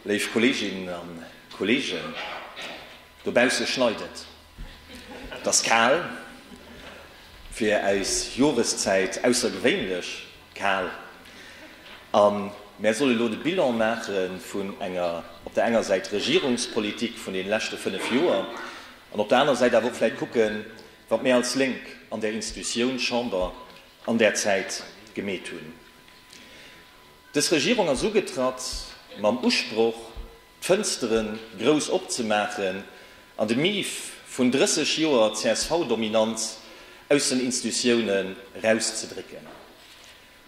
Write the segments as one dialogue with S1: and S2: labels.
S1: Léif Kolleeginnen a Kolleegen, dobausse schneit et, et ass kal, fir äis Joreszäit aussergewéinlech kal, a mär solle elo de Bilan maache vun enger op der enger Säit Regierungspolitik vun deene leschte fënnef Joer an op der aner Säit awer och vläit kucken, wat mir als Lénk an där Institutioun Chamber an där Zäit gemeet hunn. Dës Regierung ass ugetratt mam Usproch, d'Fënstere grouss opzemaachen an de Mief vun 30 Joer CSV-Dominanz aus den Instutiounen erauszedrécken.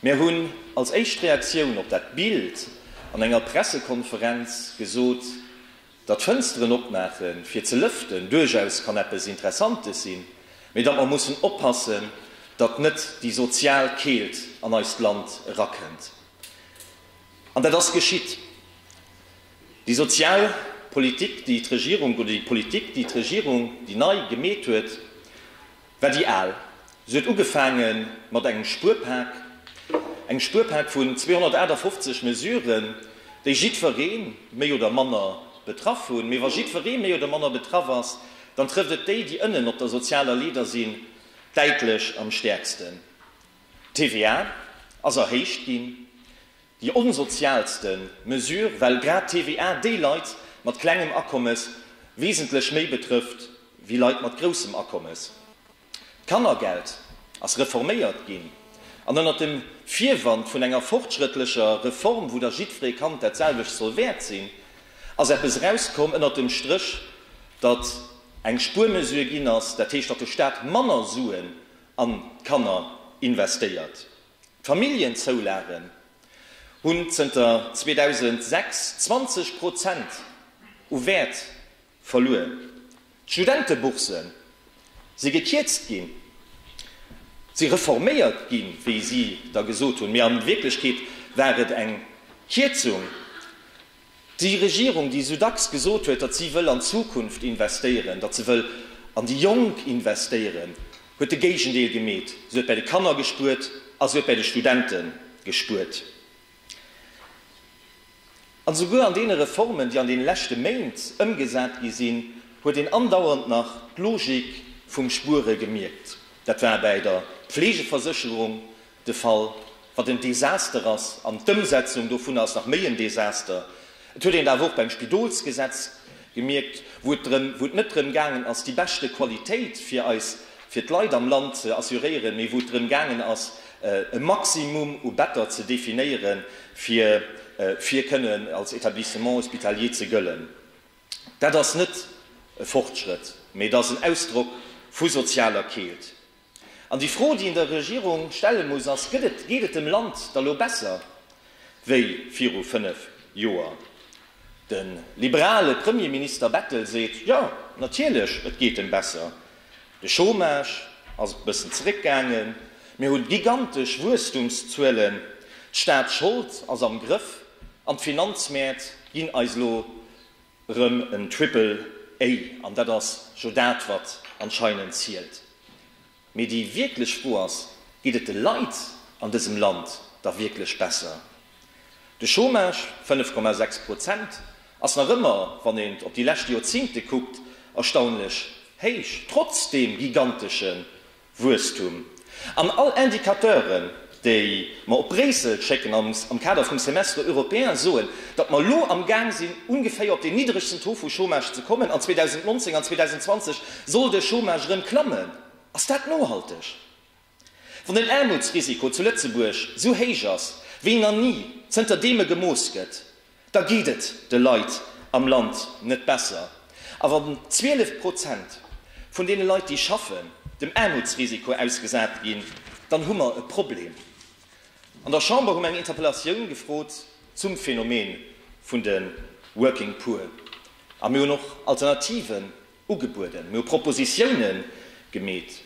S1: Mär hunn als éischt Reaktioun op dat Bild an enger Pressekonferenz gesot, Datt Fënsteren opmaache fir ze lëften duerchaus kann eppes Interessantes sinn, mee datt mer mussen oppassen, datt net déi sozial Keelt an eist Land erakënnt. An dat ass geschitt. Déi sozial Politik, déi d'Regierung, oder déi Politik, déi d'Regierung, déi nei, gemeet huet, war déi al. Se huet ugefaange mat engem Spuerpak, engem Spuerpak vun 258 Mesuren, déi jiddweree méi oder manner betraff hunn. Mee wa jiddweree méi oder manner betraff ass, dann trëfft et déi, déi ënnen op der sozialer Leeder sinn, däitlech am stäerksten. D'TVA ass erhéicht ginn. Déi onsozialste Mesure, well grad d'TVA déi Leit mat klengem Akommes wesentlech méi betrëfft wéi Leit mat groussem Akommes. D'Kannergeld ass reforméiert ginn, an ënnert dem Virwand vun enger fortschrëttlecher Reform, wou da jiddweree Kand dat selwecht soll wäert sinn, ass eppes erauskomm ënnert dem Stréch, datt eng Spuermesure ginn ass, dat heescht, datt de Staat manner Suen an d'Kanner investéiert. D'Familljenzoulagen hunn zënter 2006 20 Prozent u Wäert verluer, d'Studentebourse si gekierzt ginn, si reforméiert ginn, wéi si da gesot hunn, mee a Wierklechkeet war et eng Kierzung. Déi Regierung, déi esou dacks gesot huet, datt si wëll an d'Zukunft investéieren, datt se wëll an déi Jonk investéieren, huet de Géigendeel gemeet. Se huet bäi de Kanner gespuert a se huet bäi de Studente gespuert. An esouguer an deene Reformen, déi an deene leschte Méint ëmgesat gi sinn, huet een andauernd nach d'Logik vum Spuere gemierkt. Dat war bäi der Pflegeversécherung, De Fall, wat en Desaster ass, an d'Ëmsetzung dovunner ass nach méi en Desaster. Et huet een et awer och beim Spidolsgesetz gemierkt, wou et drëm, wou et net drëm gaangen ass, déi beschte Qualitéit fir eis, fir d'Leit am Land ze assuréieren, mee wou et drëm gaangen ass, e Maximum u Better ze definéiere fir, fir kënnen als Etablissement hospitalier ze gëllen. Dat ass net e Fortschrëtt, mee et ass en Ausdrock vu sozialer Keelt. An déi Fro, déi een der Regierung stelle muss, ass, Gëtt et, geet et dem Land da lo besser wéi viru fënnef Joer? De liberale Premierminister Bettel seet, Jo, natierlech, et geet em besser. De Chômage ass e bëssen zeréckgaangen, mir hu gigantesch Wuesstumszuelen, d'Staatschold ass am Grëff an d'Finanzmäert ginn eis lo Rem en Triple A, an dat ass jo dat wat anscheinend zielt. Mee déi wierklech Fro ass, geet et de Leit an dësem Land da wierklech besser? De Chômage, 5,6 Prozent, ass nach ëmmer, wann een et op déi lescht Joerzingte kuckt, erstaunlech héich, trotz deem gigantesche Wuesstum. An all Indicateuren, déi mer op Bréissel schécken am Kader vum Semestre européen, soen, datt mer elo am Gaang sinn, ongeféier op deen niddregsten Taux vu Chômage ze kommen an 2019 an 2020 soll de Chômage erëm klammen. Ass dat nohalteg? Wann den Aarmutsrisiko zu Lëtzebuerg esou héich ass wéi na ni, zënter deem e gemooss gëtt, Da geet et de Leit am Land net besser. A wann 12 Prozent vun deene Leit, déi schaffen, dem Aarmutsrisiko ausgesat ginn, dann hu mer e Problem. An der Chamber hu mer eng Interpellatioun gefrot zum Phänomen vun de Working Poor. A mir hunn och Alternativen Ugebueden. Mir hu Propositione gemeet.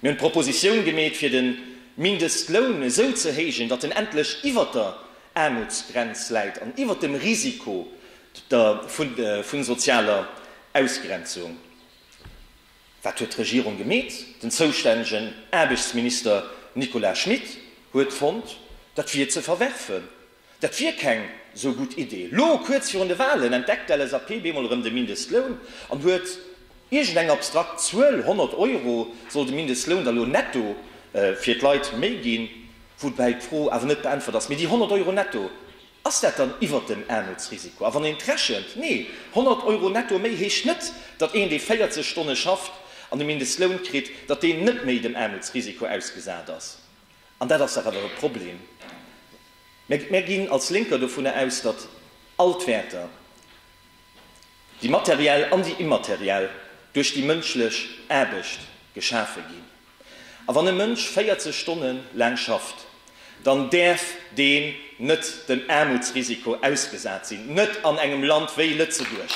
S1: Mir hunn d'Propositioun gemeet, fir de Mindestloun esou ze héijen, datt en endlech iwwert der Aarmutsgrenz läit an iwwert dem Risiko vu sozialer Ausgrenzung. Wat huet d'Regierung gemeet? Den zoustännegen Aarbechtsminister Nicolas Schmit huet fonnt, dat wier ze verwerfen. Dat wier keng sou gutt Idee. Elo, kuerz virun de Walen, entdeckt d'LSAP bemol erëm de Mindestloun an huet iergend eng abstrakt Zuel, 100 Euro soll de Mindestloun da lo netto fir d'Leit méi ginn. Woubäi d'Fro awer net beäntwert ass, mee déi 100 Euro netto, ass dat dann iwwert dem Aarmutsrisiko? A wann een et rechent, nee, 100 Euro netto méi heescht net, datt een, dee 40 Stonne schafft an de Mindestloun kritt, datt deen net méi dem Aarmutsrisiko ausgesat ass. An dat ass dach awer e Problem. Mär ginn als Lénker dovunner aus, datt all d'Wäerter, déi materiell an déi immateriell, duerch déi mënschlech Aarbecht geschafe ginn. A wann e Mënsch 40 Stonne laang schafft, dann däerf deen, net dem Aarmutsrisiko ausgesat sinn, net an engem Land wéi Lëtzebuerg,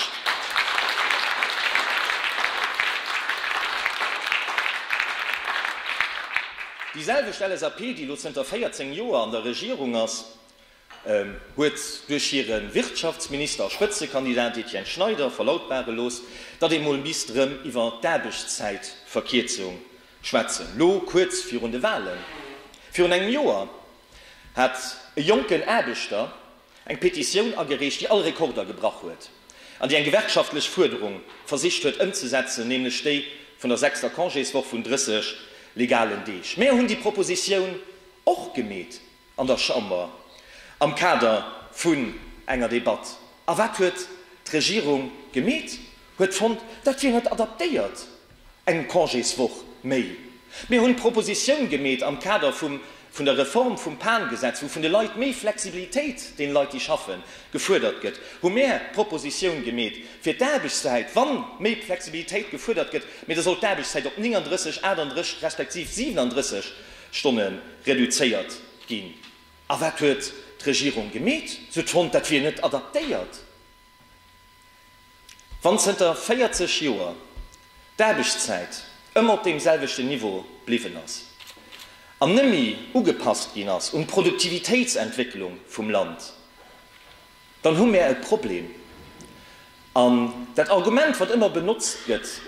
S1: déi selwecht LSAP, déi elo zënter 14 Joer an der Regierung ass, huet duerch hire Wirtschaftsminister a Spëtzekandidat Etienne Schneider verlautbare looss, datt ee mol misst erëm iwwer d'Aarbechtszäitverkierzung schwätzen, elo kuerz virun de Walen. Virun engem Joer hat e jonken Aarbechter eng Petitioun agereecht, déi all Rekorder gebrach huet an déi eng gewerkschaftlech Fuerderung versicht huet ëmzesetzen, nämlech déi vun der sechster Congéswoch vun 30 legalen Deeg. Mär hunn déi Propositioun och gemeet an der Chamber am Kader vun enger Debatt. A wat huet d'Regierung gemeet? Huet fonnt, dat wier net adaptéiert. Eng Congéswoch méi. Mir hunn d'Propositioun gemeet am Kader vum vun der Reform vum PAN-Gesetz, wou vun de Leit méi Flexibilitéit deene Leit, déi schaffen, gefuerdert gëtt, hu mär d'Propositioun gemeet fir d'Aarbechtszäit, wa méi Flexibilitéit gefuerdert gëtt, mee da soll d'Aarbechtszäit op 39, 38 respektiv 37 Stonne reduzéiert ginn. A wat huet d'Regierung gemeet? Se huet fonnt, dat wier net adaptéiert. Wann zënter 40 Joer d'Aarbechtszäit ëmmer op deem selwechten Niveau bliwwen ass an nëmmi ugepasst ginn ass un d'Produktivitéitsentwécklung vum Land, dann hu mär e Problem. An dat Argument, wat ëmmer benotzt gëtt,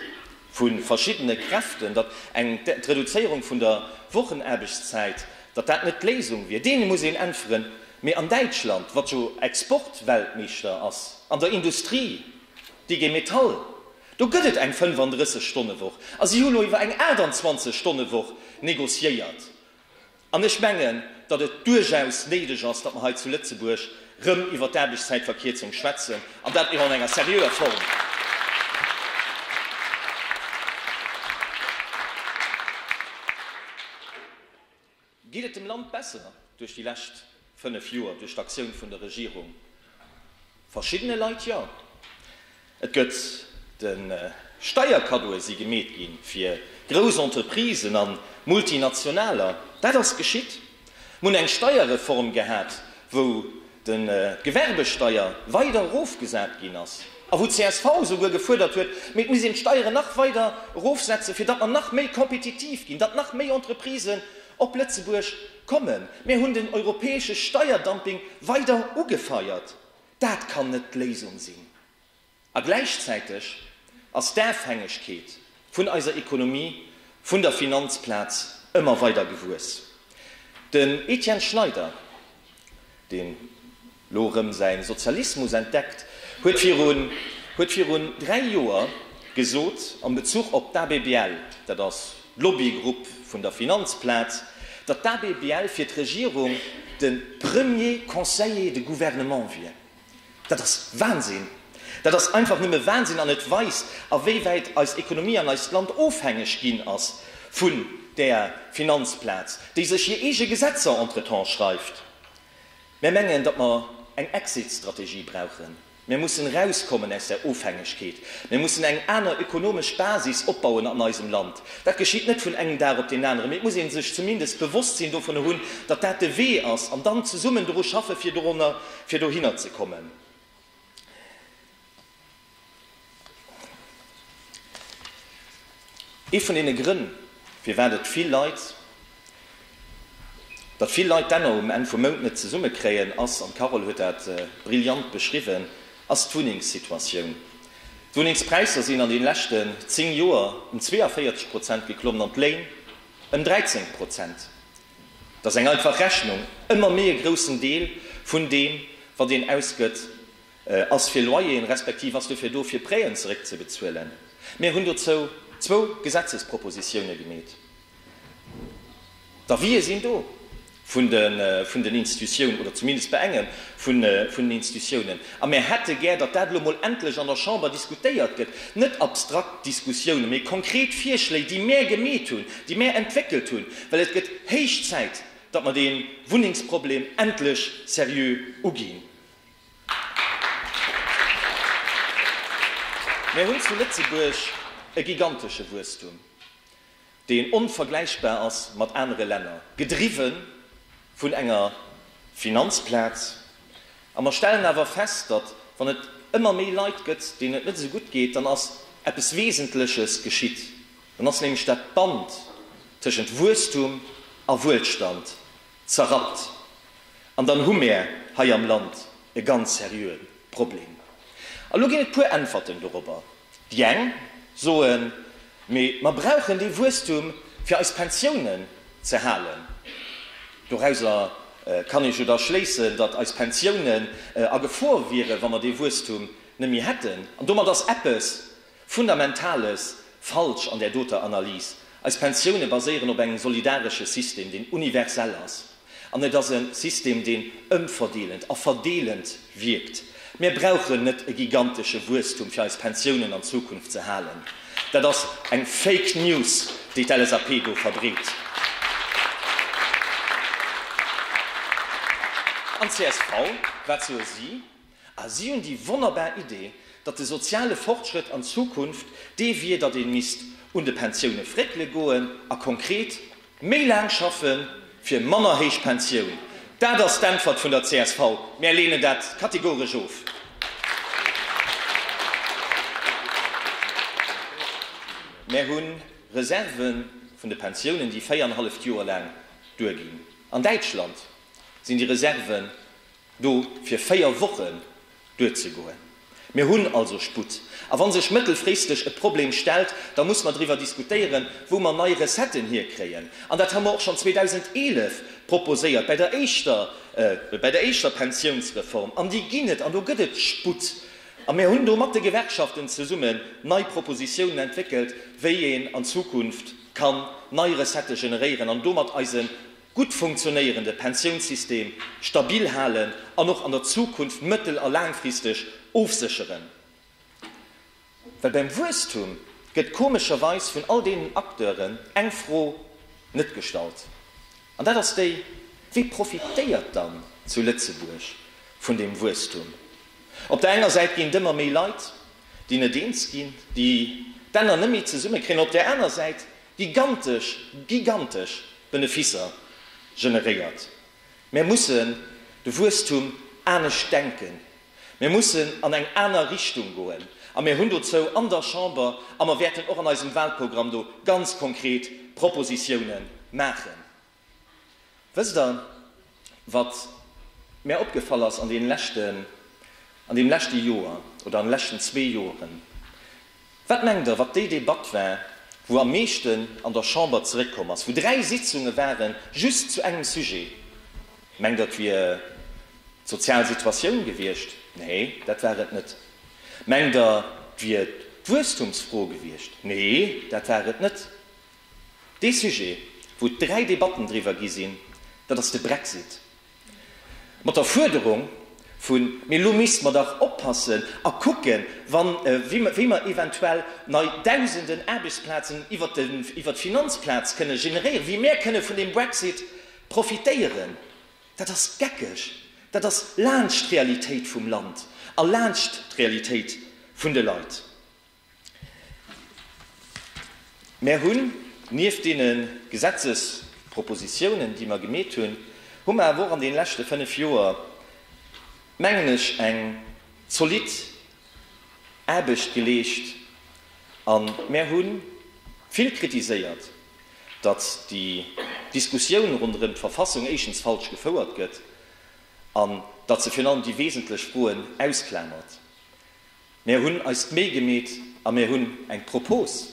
S1: vu verschiddene Kräften, datt eng d'Reduzéierung vun der Wochenaarbechtszäit, datt dat net d'Léisung wier. Deene muss een äntweren, mee an Däitschland, wat jo Exportweltmeeschter ass an der Industrie, d'IG Metall, do gëtt et eng 35 Stonne Woch a si hu lo iwwer eng 28 Stonne Woch negociéiert. An ech mengen, datt et duerchaus néideg ass, datt mer hei zu Lëtzebuerg erëm iwwert d'Aarbechtszäitverkierzung schwätzen, an dat och an enger seriöer Form. Geet et dem Land besser duerch déi lescht Fënnef Joer duerch d'Aktioun vun der Regierung? Verschiddene Leit jo. Et gëtt de Steierkaddoe si gemeet gi fir grouss Entreprisen a Multinationaler. Dat ass geschitt. Mir hunn eng Steierreform gehat, wou de Gewerbesteier weider erofgesat ginn ass a wou csv souguer gefuerdert huet, mee et muss een d'Steieren nach weider erofsetzen, fir datt mer nach méi kompetitiv ginn, datt nach méi Entreprisen op Lëtzebuerg Kommen, mir hunn den europäesche Steierdumping weider ugefeiert, dat kann net d'Léisung sinn. A gläichzäiteg ass d'Afhängegkeet vun eiser Ekonomie vun der Finanzplaz ëmmer weider gewuess. Den Etienne Schneider, den. lo rëm säin Sozialismus entdeckt huet, virun huet virun 3 Joer gesot am Bezuch op d'ABBL, dat ass d'Lobbygrupp vun der Finanzplaz, datt d'ABBL fir d'Regierung de Premier Conseiller de Gouvernement wier. Dat ass Wahnsinn! Dat ass einfach nëmme Wahnsinn an et weist a wéi wäit eis Ekonomie an eist Land ofhängeg ginn ass vun där Finanzplaz, déi sech hir eege Gesetzer entretemps schreift. Mär mengen, datt mer eng Exit-Strategie brauchen. Mär mussen erauskommen aus där Ofhängegkeet. Mär mussen eng aner ökonomesch Basis opbauen an eisem Land. Dat geschitt net vun engem Dag op deen aneren, mee et muss ee sech zumindest d'Bewosstsinn dovunner hunn, datt dat de Wee ass, an dann zesummen doru schaffen, fir dohinner ze kommen. Ee vun deene Grënn, firwat et vill Leit, datt vill Leit d'Enner um Enn vum Mount net zesumme kréien, ass, an d'Carole huet dat brillant beschriwwen, ass d'Wunnengssituatioun. D'Wunnengspräisser sinn an deene leschte 10 Joer ëm 42 Prozent geklommen an d'Léin ëm 13 Prozent. Dat ass eng einfach Rechnung, ëmmer méi e groussen Deel vun deem, wat een ausgëtt, Ass fir Loyeren, respektiv ass dofir do, fir Prêten zeréckzebezuelen. Mir hunn dozou zwou Gesetzespropositiounen gemeet. D'Avisë sinn do vun den Institutiounen, oder zumindest bei engem vun den Institutiounen. A mir hätte gär, datt dat elo emol endlech an der Chamber diskutéiert gëtt, net abstrakt Diskussiounen, mee konkret Virschléi, déi mär gemeet hunn, déi mär entwéckelt hunn, well et gëtt héich Zäit, datt mer dee Wunnengsproblem endlech seriö uginn. Mir hunn zu Lëtzebuerg e gigantesche Wuesstum, deen onvergläichbar ass mat anere Länner, gedriwwe vun enger Finanzplaz. A mer stellen awer fest, datt, wann et ëmmer méi Leit gëtt, deenen et net esou gutt geet, dann ass eppes Wesentleches geschitt, dann ass nämlech dat Band tëschent Wuesstum a Wuelstand Zerrappt. An dann hu mär hei am Land e ganz seriöe Problem. A lo ginn et puer Äntwerten dorobber. Déi eng soen, mee mer brauchen dee Wuesstum, fir eis Pensiounen ze halen. Dorauser kann ee jo da schléissen, datt eis Pensiounen a Gefor wieren, wa mer dee Wuesstum net méi hätten. An domat ass eppes Fundamentales falsch an där doter Analys. Eis Pensioune baséieren op engem solidaresche System, deen universell ass. An et ass e System, deen ëmverdeelend a verdeelend wierkt. Mir brauchen net e gigantesche Wuesstum, fir eis Pensiounen an Zukunft ze halen. Dat ass eng Fake News, déi d'LSAP do verbreet. An csv, wat soe si? A si hunn déi wonnerbar Idee, datt de soziale Fortschrëtt an Zukunft dee wier, datt ee misst un de Pensioune fréckele goen a konkret méi laang schaffe fir manner héich Pensioun. Dat ass d'Äntwert vun der csv. Mär leenen dat kategoresch of. Mär hu Reserve vun de Pensiounen, déi véierennhalleft Joer laang duerginn. An Däitschland sinn déi Reserven do fir véier Wochen duerzegoen. Mir hunn also Sputt. A wa sech mëttelfristeg e Problem stellt, da muss mer driwwer diskutéieren, wou mer nei Recetten hierkréien. An dat hu mer och schonn 2011 proposéiert bei der éischter, bei der éischter Pensiounsreform. An déi ginn et, an do gëtt et Sputt. A mir hunn do mat de Gewerkschaften zesummen nei Propositiounen entwéckelt, wéi een an Zukunft kann nei Recettë generéieren an domat eise gutt funktionéierende Pensiounssystem stabil halen an och an der Zukunft mëttel a laangfristeg ofsécheren. Well beim Wuesstum gëtt komescherweis vun all deenen Acteuren eng Fro net gestallt, an dat ass déi, Wie profitéiert dann zu Lëtzebuerg vun deem Wuesstum? Op der enger Säit ginn et ëmmer méi Leit, déi net eens ginn, déi d'Enner net méi zesummekréien, op där aner Säit gigantesch, gigantesch Beneficer generéiert. Mir mussen de Wuesstum anescht denken, mir mussen an eng aner Richtung goen a mir hunn dozou an der Chamber, a mer wäerten och an eisem Wahlprogramm do ganz konkret Propositiounen maachen. Wësst der, wat mär opgefall ass an deem leschten, an deem leschte Joer oder an de leschten zwee Joeren? Wat mengt der, wat déi Debatt war, wou am meeschten an der Chamber zeréckkomm ass, wou dräi Sitzunge ware just zu engem Sujet? Mengt der, et wier d'sozial Situatioun gewiescht? Nee, dat war et net. Mengt der, et wier d'Wuesstumsfro gewiescht? Nee, dat war et net. Dee Sujet, wou dräi Debatten driwwer gi sinn, dat ass de Brexit. Mat der Fuerderung vun, Mee elo misste mer dach oppassen a kucken, wéi mer eventuell nei Dausenden Aarbechtsplazen iwwert d'Finanzplaz kënne generéieren, wéi mär kënne vun deem Brexit profitéieren. Dat ass geckeg. Dat ass laanscht d'Realitéit vum Land a laanscht d'Realitéit vun de Leit. Mär hunn nieft deene Gesetzespropositiounen, déi mer gemeet hunn, hu mer awer och an deene leschte fënnf Joer, mengen ech, eng zolidd Aarbecht geleescht. A mär hu vill kritiséiert, datt déi Diskussioun ronderëm d'Verfassung éischtens falsch gefouert gëtt an datt se virun allem déi wesentlech Froen ausklamert. Mär hunn eis d'Méi gemeet a mär hunn eng Propose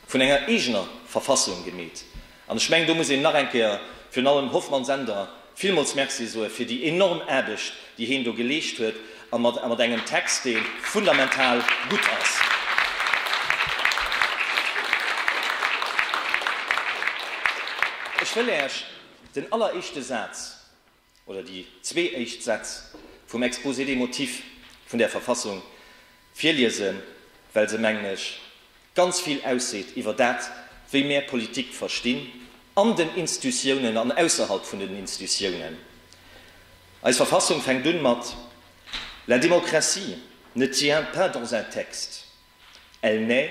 S1: vun enger eegener Verfassung gemeet. An ech mengen, do muss een nach eng Kéier virun allem Hoffmann-Sender villmools Merci soe fir déi enorm Aarbecht, déi heen do geleescht huet a mat engem Text, dee fundamental gutt ass. Ech wëll Äech den alleréischte Saz oder déi zwee éischt Sätz vum Exposé des motifs vun där Verfassung virliesen, well se, mengen ech, ganz vill ausseet iwwer dat, wéi mär Politik verstinn, an den Instutiounen an ausserhalb vun den Instutiounen. Eis Verfassung fänkt un mat La démocratie ne tient pas dans un texte, elle naît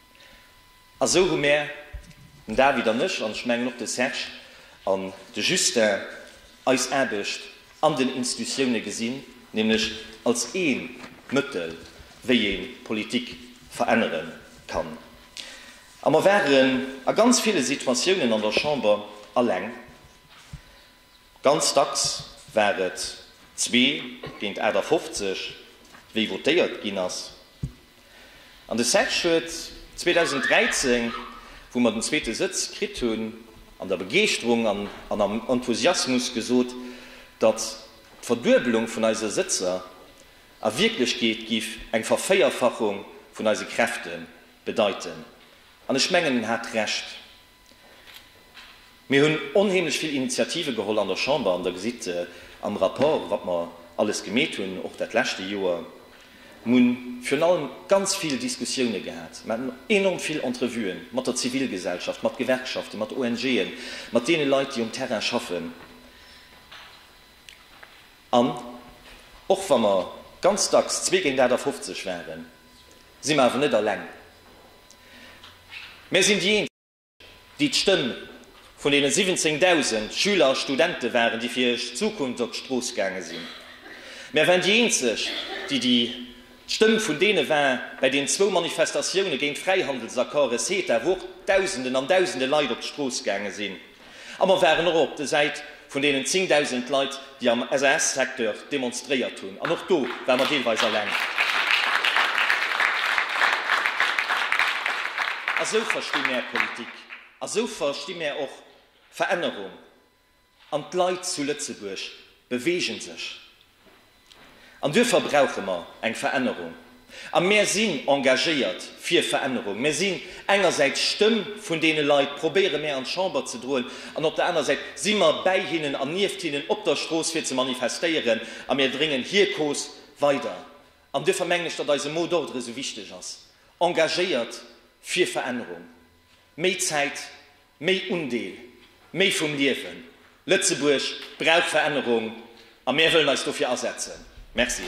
S1: A sou hu mär, den David an ech, an ech mengen och de Serge an de Justin, eis Aarbecht an den Institutiounen gesinn, nämlech als ee Mëttel, wéi ee Politik verännere kann. A mer waren a ganz ville Situatiounen an der Chamber alleng. Ganz dacks war et zwee géint 58, wéi votéiert ginn ass. An de Serge huet 2013, wou mer den zweete Sëtz kritt hunn, an der Begeeschterung an am Enthusiasmus gesot, datt d'Verduebelung vun eise Sëtzer a Wierklechkeet géif eng Vervéierfachung vun eise Kräfte bedeiten. An ech mengen, en hat Recht. Mir hunn onheemlech vill Initiative geholl an der Chamber an Der gesitt am Rapport, wat mer alles gemeet hunn, och dat leschte Joer. Mer hunn virun allem ganz vill Diskussioune gehat, mer haten enorm vill Entrevuen mat der Zivilgesellschaft, mat Gewerkschaften, mat ONGen, mat deene Leit, déi um Terrain schaffen. An och wa mer ganz dacks zwee géint 58 waren, si mer awer net eleng. Mär sinn déi eenzeg, déi d'Stëmm vun deene 17.000 Schüler a Studente waren, déi fir hir Zukunft op d'Strooss gaange sinn. Mär waren déi eenzeg, déi d'Stëmm vun deene war bei den zwou Manifestatioune géint Fräihandelsaccords, CETA, wou och Dausenden an Dausende Leit op d'Strooss gaange sinn. A mer waren och op de Säit vun deenen 10.000 Leit, déi am SAS-Secteur demonstréiert hunn. An och do ware mer deelweis alleng. A sou versti mär Politik. A sou versti mär och Verännerung. An d'Leit zu Lëtzebuerg bewegen sech. An duerfir brauche mer eng Verännerung. A mär sinn engagéiert fir Verännerung. Mär sinn engersäits d'Stëmm vun deene Leit, probéiere mär an d'Chamber ze droen, an op der anerer Säit si mer bäi hinnen an nieft hinnen op der Strooss fir ze manifestéieren a mär dréngen hir Cause weider. An duerfir mengen ech, datt eise Mot d'ordre esou wichteg ass, engagéiert fir Verännerung. Méi Zäit Méi Undeel, méi vum Liewen! Lëtzebuerg brauch Verännerung a mär wëllen eis dofir asetzen. Merci.